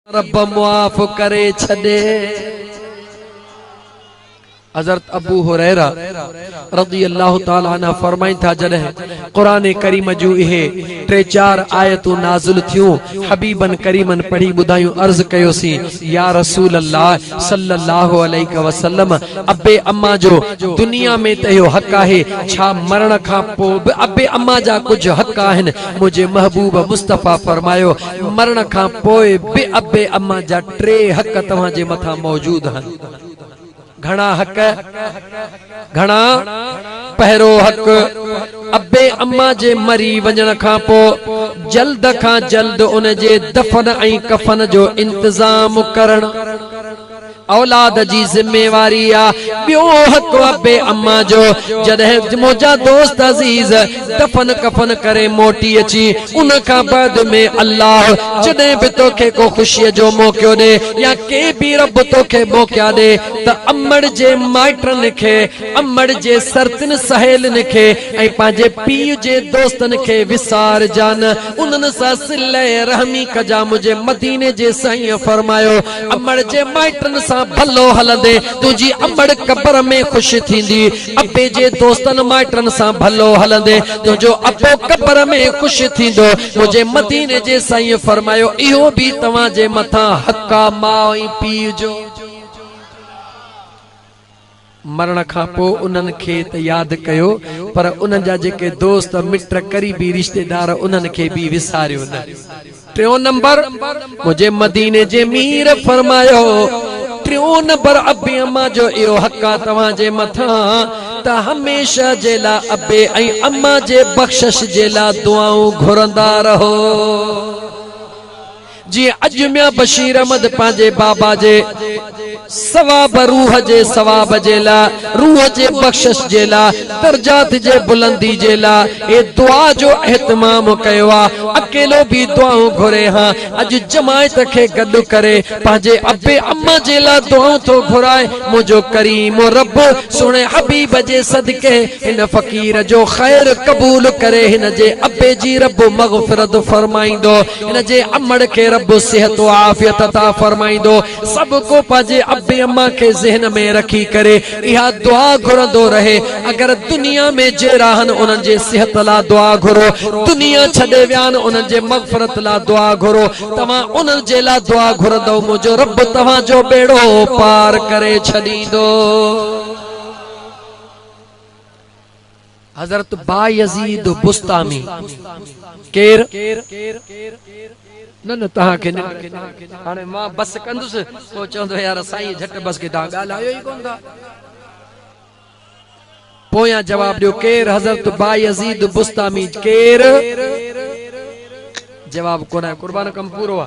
رب معاف ڪري ڇڏي. حضرت ابو هريره رضي الله تعالٰي عنه فرمائن ٿا جڏهن قرآن ڪريم جون اهي ٽي چار آيتون نازل ٿيون حبيبن ڪريمن پڙهي ٻڌايون عرض ڪيوسين يا رسول الله صلّي الله عليه وسلّم ابي اما جو دنيا ۾ ته اهو حق آهي ڇا مرڻ کان پوء به ابي اما جا ڪجهه حق آهن منهنجي محبوب مصطفٰي فرمايو مرڻ کان پوء به ابي اما جا ٽي حق توهان جي مٿان موجود آهن. گهڻا حق؟ گهڻا؟ پهرو حق، ابي اما جي مري وڃڻ کان پوء جلد کان جلد ان جي دفن ۽ ڪفن جو انتظام ڪرڻ. اولاد جي ذميواري آ. ٻيو حق ابي اما جو. جڏهن منهنجا دوست عزيز دفن ڪفن ڪري موٽي اچي ان کان بعد ۾ الله جڏهن به توکي ڪو خوشي جو موقعو ڏي يا ڪي به رب توکي موقعا ڏي ته امڙ جي مائٽن کي امڙ جي سرتين سهيلين کي ۽ پنهنجي پيء جي دوستن کي وسارجان انهن سان صله رحمي ڪجان منهنجي مديني جي سائينء فرمايو امڙ جي مائٽن سان ڀلو هلندي، تنهنجي امڙ قبر ۾ خوش ٿيندي. ابي جي دوستن مائٽن سان ڀلو هلندي، تنهنجو ابو قبر ۾ خوش ٿيندو. منهنجي مديني جي سائينء فرمايو، اهو به توهان جي مٿان حق آ ماء ۽ پيء جو. مرڻ کان پوء انهن کي ته ياد ڪيو پر انهن جا جيڪي دوست، مٽ، قريبي رشتيدار انهن کي به وساريو نه. ٽيون نمبر، منهنجي مديني جي مير فرمايو، ٽيون نمبر ابي امان جو اهو حق آ توهان جي مٿان ته هميشه جي لا ابي ۽ امان جي بخشش جي لا دعائون گهرندا رهو. جيئن اڄ ميان بشير احمد پنهنجي بابا جي ثواب روح جي ثواب جي لاء روح جي بخشش جي لاء درجات جي بلندي جي لاء هي دعا جو اهتمام ڪيو آ اڪيلو به دعائون گهري هان اڄ جماعت کي گڏ ڪري پنهنجي ابي اما جي لاء دعائون ٿو گهرائي منهنجو ڪريم رب سهڻي حبيب جي صدقي هن فقير جو خير قبول ڪري هن جي ابي جي رب مغفرت فرمائيندو هن جي امڙ کي رب صحت و عافيت عطا فرمائيندو. سڀ ڪو پنهنجي ابي امان کي ذهن ۾ رکي ڪري اها دعا گهرندو رهي. اگر دنيا ۾ جي راهن انهن جي صحت لا دعا گهرو. دنيا ڇڏي ويان انهن جي مغفرت لا دعا گهرو. توهان انهن جي لا دعا گهرندؤ منهنجو رب توهان جو ٻيڙو پار ڪري ڇڏيندو. حضرت بايزيد بسطامي ڪير؟ نه نه توهان کي نه هاڻي مان بس ڪندس پوء چوندو يار سائين جهٽ بس کي توهان ڳالهايو ئي ڪونه ٿا پويان جواب ڏيو ڪير حضرت بايزيد بسطامي ڪير جواب ڪونه قربان ڪم پورو آ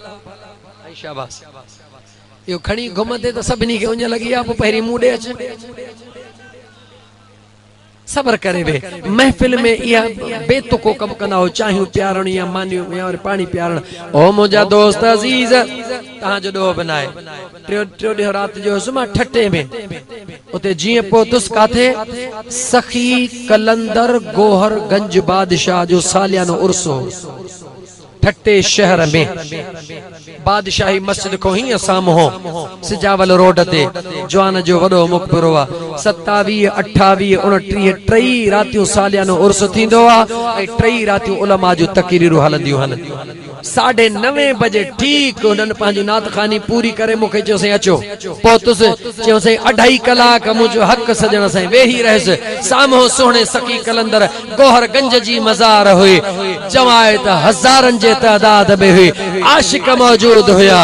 ۽ شاباس اهو کڻي گم تي ته سڀني کي اڃ لڳي آ پو پهرين مون ڏي اچ صبر ڪري وي محفل ۾ اها بي تڪو ڪم ڪندا هو چاهيون پيارڻ يا مانيون يا ور پاڻي پيارڻ او منهنجا دوست عزيز تهان جو ڏوهه به ناهي ٽيو ٽيو ڏينهن رات جو هيس مان ٺٽي ۾ اتي جيئن پهتس ڪاٿي سخي قلندر گوهر گنج بادشاهه جو ساليانو عرس هو ٺٽي شهر ۾ بادشاهي مسجد کون هينئن سامهون سجاول روڊ تي جوان جو وڏو مقبرو آ. ستاويهه، اٺاويهه، اڻٽيهه ٽئي راتيون ساليانو عرس ٿيندو آ ۽ ٽئي راتيون علماء جون تقريرون هلنديون هن. ساڍي نوين بجي ٺيڪ هنن پنهنجي نعت خواني پوري ڪري مون کي چيو سائين اچو. پهتس، چيو سائين اڍائي ڪلاڪ منهنجو حق سڄڻ سائين ويهي رهيس سامهون سهڻي سخي قلندر گوهر گنج جي مزار هئي جوائي ته هزارن جي تعداد ۾ هئي عاشق موجود هيا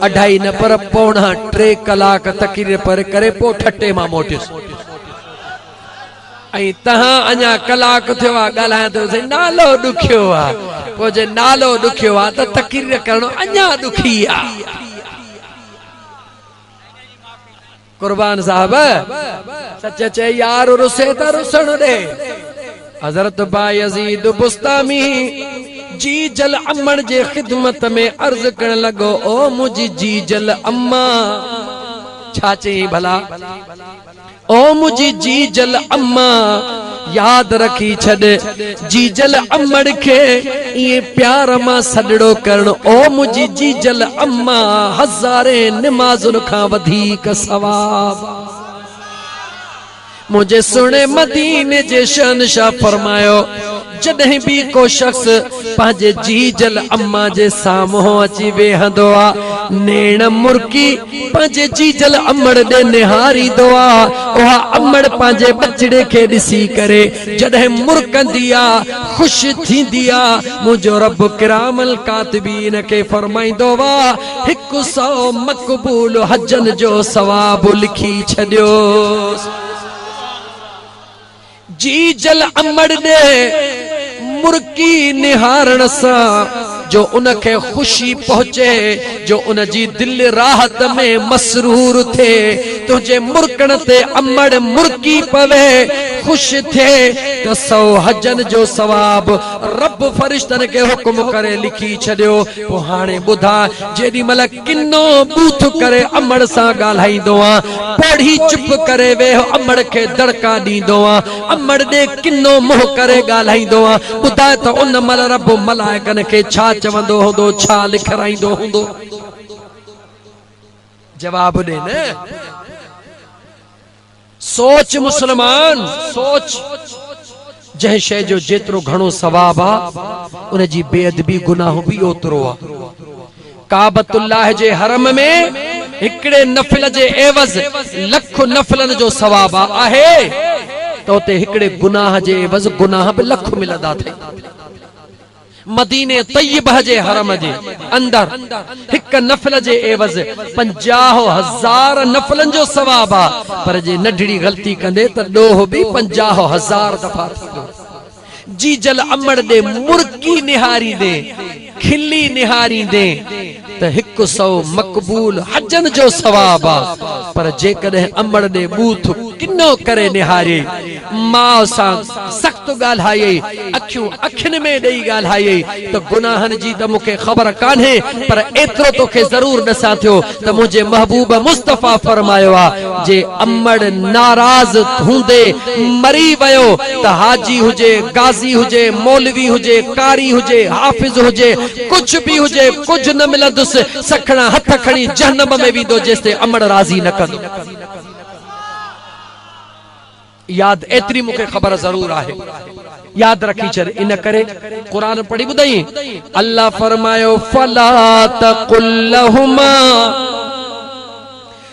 اڍائي نه پر پوڻا ٽي ڪلاڪ تقرير پڙهي ڪري پوء ٺٽي مان موٽيس ۽ تهان اڃا ڪلاڪ ٿيو آ ڳالهايان ٿو سائين نالو ڏکيو آ پوء جي نالو ڏکيو آ ته تقرير ڪرڻ اڃا ڏکي آ قربان صاحب سچ چئي يار رسي ته رسڻ ڏي حضرت بايزيد بستامي جي جل امن جي خدمت ۾ عرض ڪرڻ لڳو او منهنجي جي جل اما ڇا چئين ڀلا او منهنجي جي جل اما ياد رکي ڇڏ جيجل امڙ کي ائين پيار مان سڏڙو ڪرڻ او منهنجي جيجل اما هزارين نمازن کان وڌيڪ ثواب منهنجي سهڻي مديني جي شهنشاهه فرمايو جڏهن به ڪو شخص پنهنجي جيجل اما جي سامهون اچي ويهندو آ، نيڻ مرڪي پنهنجي جيجل امڙ ڏي نهاريندو آ، اها امڙ پنهنجي ٻچڙي کي ڏسي ڪري جڏهن مرڪندي آ، خوش ٿيندي آ، منهنجو رب ڪرام الڪاتبين کي فرمائيندو آ، هڪ سئو مقبول حجن جو ثواب لکي ڇڏيوس. جي جل امڙ ڏي مرڪي نهارڻ سان جو ان کي خوشي پهچي جو ان جي دل راحت ۾ مسرور ٿئي تنهنجي مرڪڻ تي امڙ مرڪي پوي خوش ٿئي ته سؤ حجن جو ثواب رب فرشتن کي حڪم ڪري لکي ڇڏيو پوء هاڻي ٻڌاء جيڏي مهل ڪنو بوٿ ڪري امڙ سان ڳالهائيندو آ، پوڙهي چپ ڪري ويهه امڙ کي دڙڪا ڏيندو آ، امڙ ڏي ڪنو منهن ڪري ڳالهائيندو آ، ٻڌاء ته ان مهل رب ملائڪن کي ڇا چوندو هوندو، ڇا لکرائيندو هوندو؟ جواب ڏي نه! سوچ مسلمان سوچ، جنهن شيء جو جيترو گهڻو ثواب آ، ان جي بي ادبي گناهه به اوترو آ. ڪعبة الله جي حرم ۾ هڪڙي نفل جي عيوض لک نفلن جو ثواب آ، آهي ته اتي هڪڙي گناهه جي عيوض گناهه به لک ملندا اٿئي. مديني طيبه جي حرم جي اندر هڪ نفل جي عيوض پنجاهه هزار نفلن جو ثواب آ پر جي نڍڙي غلطي ڪندي ته ڏوهه به پنجاهه هزار دفعا ٿيندو. جيجل امڙ ڏي مرڪي نهاريندي کلي نهاريندي ته هڪ سئو مقبول حجن جو ثواب آ، پر جيڪڏهن امڙ ڏي ٻوٿ ڪنو ڪري نهاريئي، ماء سان سخت ڳالهايئي، اکيون اکين ۾ ڏئي ڳالهايئي ته گناهن جي ته مون کي خبر ڪانهي پر ايترو توکي ضرور ڏسان ٿيو ته منهنجي محبوب مصطفيٰ فرمايو آ جي امڙ ناراض هوندي مري ويو ته حاجي هجي، غازي هجي، مولوي هجي، قاري هجي، حافظ هجي، ڪجهه به هجي ڪجهه نه ملندس سکڻا هٿ کڻي جهنم ۾ ويندو جيستائين امڙ راضي نه ڪندو ياد ايتري مون کي خبر ضرور آهي ياد رکي ڇڏ ان ڪري قرآن پڙهي ٻڌائين الله فرمايو فلا تقل لهما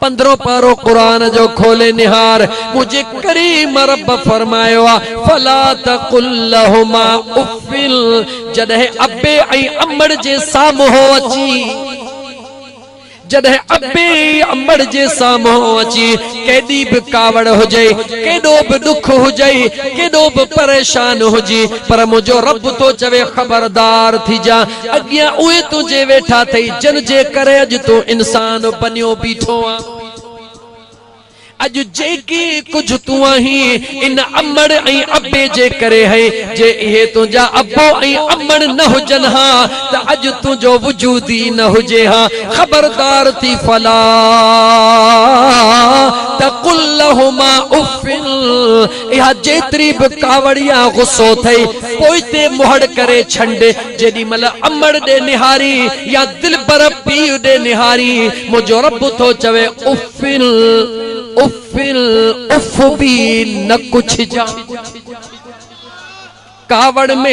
پندرهون پارو قرآن جو کولي نهار، منهنجي ڪريم رب فرمايو آ، فلا تقل لهما اف جڏهن ابي ۽ امڙ جي سامهون اچي جڏهن ابي ۽ امڙ جي سامهون اچي ڪيڏي به ڪاوڙ هجئي، ڪيڏو به ڏک هجئي، ڪيڏو به پريشان هجي پر منهنجو رب ٿو چوي خبردار ٿيجان اڳيان اهي تنهنجي ويٺا ٿئي جن جي ڪري اڄ تون انسان بنيو بيٺو آن. اڄ جيڪي ڪجهه تون آهين ان امڙ ۽ ابي جي ڪري هي جي اهي تنهنجا ابو ۽ امڙ نه هجن ها ته اڄ تنهنجو وجود ئي نه هجي ها خبردار ٿي فلا تقل لهما اف اها جيتري به ڪاوڙيا غصو ٿئي، پوئتي مهڙ ڪري ڇنڊ، جيڏي مهل امڙ ڏي نهاري يا دلبر پيء ڏي نهاري، منهنجو رب ٿو چوي، اف ال اف ال اف به نه ڪڇجان. ڪاوڙ ۾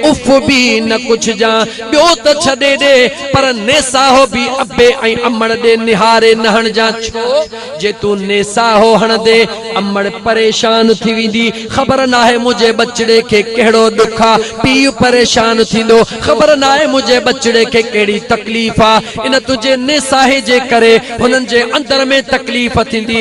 اف به نه ڪجهجان، ٻيو ته ڇڏي ڏي، پر نيساهو به ابي ۽ امڙ ڏي نهاري نه هڻجان، ڇو جي تون نيساهو هڻندي، امڙ پريشان ٿي ويندي، خبر ناهي منهنجي ٻچڙي کي ڪهڙو ڏک آ، پيء پريشان ٿيندو، خبر ناهي منهنجي ٻچڙي کي ڪهڙي تڪليف آ، ان تنهنجي نيساهي جي ڪري هنن جي اندر ۾ تڪليف ٿيندي،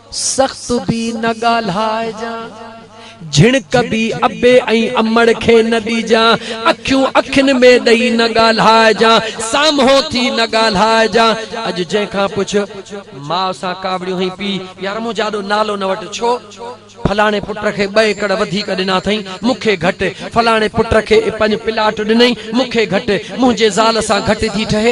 سخت به نه ڳالهائجان، جهڻڪ به ابي ۽ امڙ کي نه ڏجان، اکيون اکين ۾ ڏئي نه ڳالهائجان، سامهون ٿي نه ڳالهائجان. اڄ جنهن کان پڇ، ماء سان ڪاوڙيون هئين پيء يا رمون جي آڏو نالو نه وٺ، ڇو؟ فلاڻي پٽ کي ٻه ايڪڙ وڌيڪ ڏنا اٿئي، مون کي گهٽ، فلاڻي پٽ کي پنج پلاٽ ڏنئي، مون کي گهٽ، منهنجي زال سان گهٽ ٿي ٺهي،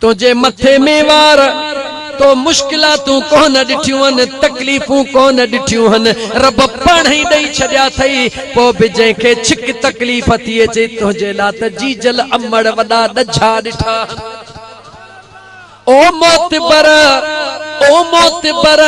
تنهنجي مٿي ۾ وار، تو مشڪلاتون ڪونه ڏٺيون هن، تڪليفون ڪونه ڏٺيون هن، رب پاڻ ئي ڏئي ڇڏيا اٿئي، پوء به جنهن کي ڇڪ تڪليف ٿي اچي، تنهنجي لاء ته جيجل امڙ وڏا ڏجها ڏٺا هن. او معتبر! او معتبر!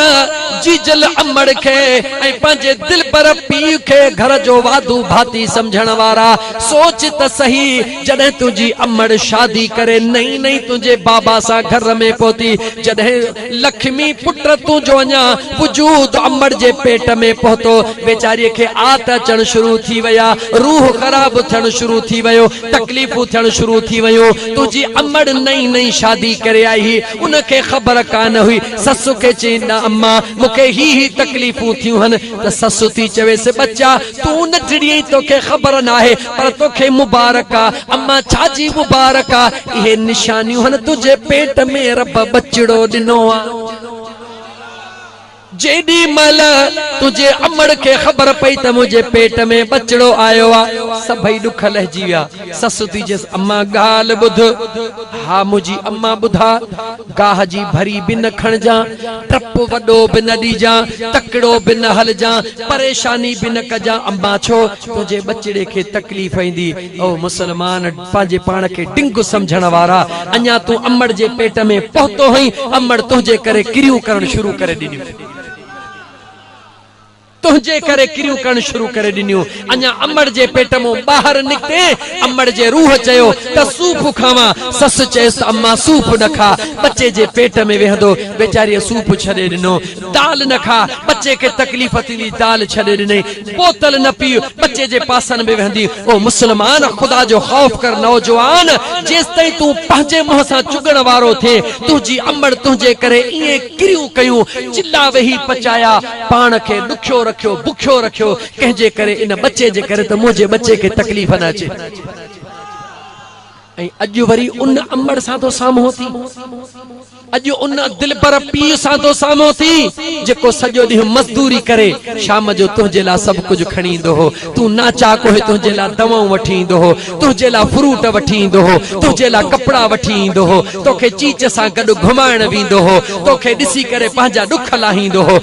جيجل امڙ کي ۽ پنهنجي دلبر پيء کي گهر جو واڌو ڀاتي سمجهڻ وارا، سوچ ته سهي، جڏهن تنهنجي امڙ شادي ڪري نئين نئين تنهنجي بابا سان گهر ۾ پهتي، جڏهن لکمي پٽ تنهنجو اڃا وجود امڙ جي پيٽ ۾ پهتو، ويچاريء کي آت اچڻ شروع ٿي وئي آ، روح خراب ٿيڻ شروع ٿي ويو، تڪليفون ٿيڻ شروع ٿي ويون، تنهنجي امڙ نئين نئين شادي ڪري آئي هئي، ان کي خبر ڪانه هئي، سس کي چئين نه اما مون کي هي هي تڪليفون ٿيون هن ته سس ٿي چويس ٻچا تون نه ٽڙيئي توکي خبر ناهي پر توکي مبارڪ آ، اما ڇا جي مبارڪ آ اهي نشانيون هن تنهنجي پيٽ ۾ رب ٻچڙو ڏنو آ. جيڏي مهل تنهنجي امڙ کي خبر پئي ته منهنجي پيٽ ۾ ٻچڙو آيو آ، سڀئي ڏک لهجي ويا. سس اٿي چيس، اما ڳالهه ٻڌ. ها منهنجي اما ٻڌاء. گاهه جي ڀري به نه کڻجان، ٽپ وڏو به نه ڏيجان، تڪڙو به نه هلجان، پريشاني به نه ڪجان. اما ڇو؟ تنهنجي ٻچڙي کي تڪليف ايندي. او مسلمان! پنهنجي پاڻ کي ڊنگو سمجهڻ وارا، اڃا تون امڙ جي پيٽ ۾ پهتو هئين، امڙ تنهنجي ڪري ڪريون ڪرڻ شروع ڪري ڏنيون. تنهنجي ڪري ڪريون ڪرڻ شروع ڪري ڏنيون. اڃا امڙ جي پيٽ مون ٻاهر نڪتين، امڙ جي روح چيو ته سوپ کاوان، سس چيس ته امان سوپ نه کا، ٻچي جي پيٽ ۾ ويهندو، ويچاريء سوپ ڇڏي ڏنو. دال نه کاء، ٻچي کي تڪليف ٿيندي، دال ڇڏي ڏنئي، بوتل نه پيء، ٻچي جي پاسن ۾ ويهندي، او مسلمان! خدا جو خوف ڪر، نوجوان! جيستائين تون پنهنجي منهن سان چڳڻ وارو ٿئين، تنهنجي امڙ تنهنجي ڪري ائين ڪريون ڪيون، چلا ويهي پچايا، پاڻ کي ڏکيو رکيو، بکيو رکيو، ڪنهن جي ڪري، ان ٻچي جي ڪري ته منهنجي ٻچي کي تڪليف نه اچي. ۽ اڄ وري ان امڙ سان ٿو سامهون ٿي، اڄ ان دلبر پيء سان ٿو سامهون ٿي، جيڪو سڄو ڏينهن مزدوري ڪري شام جو تنهنجي لاء سڀ ڪجهه کڻي ايندو هو، تون ناچاڪ هئين تنهنجي لاء دوائون وٺي ايندو هو، تنهنجي لاء فروٽ وٺي ايندو هو، تنهنجي لاء ڪپڙا وٺي ايندو هو، توکي چيچ سان گڏ گهمائڻ ويندو هو، توکي ڏسي ڪري پنهنجا ڏک لاهيندو هو،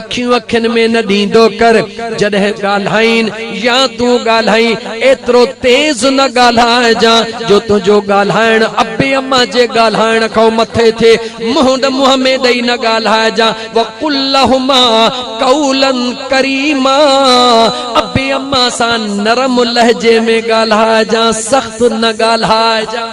اکيون اکين ۾ نه ڏيندو ڪر جڏهن ڳالهائين يا تون ڳالهائين ايترو تيز نه ڳالهائجان جو تنهنجو ڳالهائڻ ابي اما جي ڳالهائڻ کان مٿي ٿئي منهن ڏ منهن ۾ ڏئي نه ڳالهائجان وقل لهما قولا ڪريما ابي اما سان نرم لهجي ۾ ڳالهائجان سخت نه ڳالهائجان.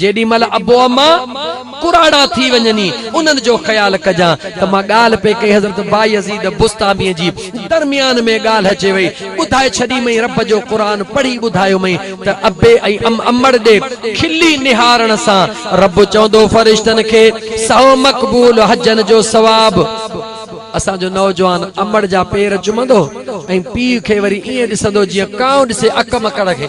جيڏي مھل ابو اما ڪراڙا ٿي وڃن ئي انھن جو خيال ڪجان ته مان ڳالھه پئي ڪئي حضرت بايزيد بسطاميء جي درميان ۾ ڳالھه اچي وئي ٻڌائي ڇڏيمئين رب جو قرآن پڙھي ٻڌايومئين ته ابي ۽ امڙ ڏي کلي نھارڻ سان رب چوندو فرشتن کي سھو مقبول حجن جو ثواب اسان جو نوجوان امڙ جا پير چمندو ۽ پيء کي وري ائين ڏسندو جيئن ڪانء ڏسي اڪ مڪڙ کي.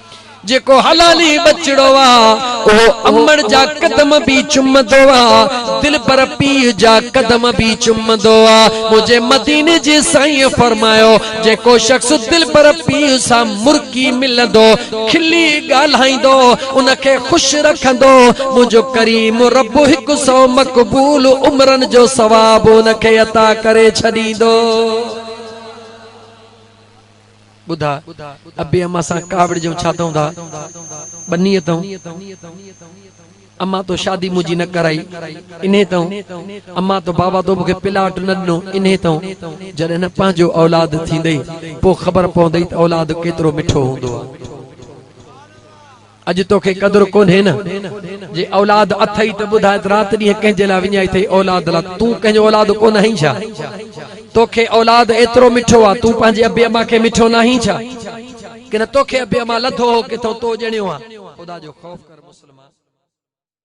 جيڪو حلالي ٻچڙو آ، اهو امڙ جا قدم به چمندو آ، دلبر پيء جا قدم به چمندو آ، منهنجي مديني جي سائينء فرمايو، جيڪو شخص دلبر پيء سان مرڪي ملندو، کلي ڳالهائيندو، ان کي خوش رکندو، منهنجو ڪريم رب هڪ سئو مقبول عمرن جو ثواب ان کي عطا ڪري ڇڏيندو. ٻڌاء، ابي امان سان ڪاوڙ جيون ڇا ٿئون ٿا؟ ٻنيء ٿئون؟ امان تو شادي منهنجي نه ڪرائي، انهي ٿئون؟ امان تو بابا تو مون کي پلاٽ نه ڏنو، انهي ٿئون؟ جڏهن نه پنهنجو اولاد ٿيندئي، پوء خبر پوندئي ته اولاد ڪيترو مٺو هوندو آهي. اڄ توکي قدر ڪونهي نه، جي اولاد اٿئي ته ٻڌاء ته رات ڏينهن ڪنهن جي لاء وڃائي اٿئي اولاد لاء، تون ڪنهن جو اولاد ڪونه آهين ڇا؟ توکي اولاد ايترو مٺو آ، تون پنهنجي ابي امان کي مٺو ناهين ڇا؟ ڪنهن توکي ابي امان لڌو هو ڪٿئون تو ڄڻيو آ؟ خدا جو خوف ڪر مسلمان!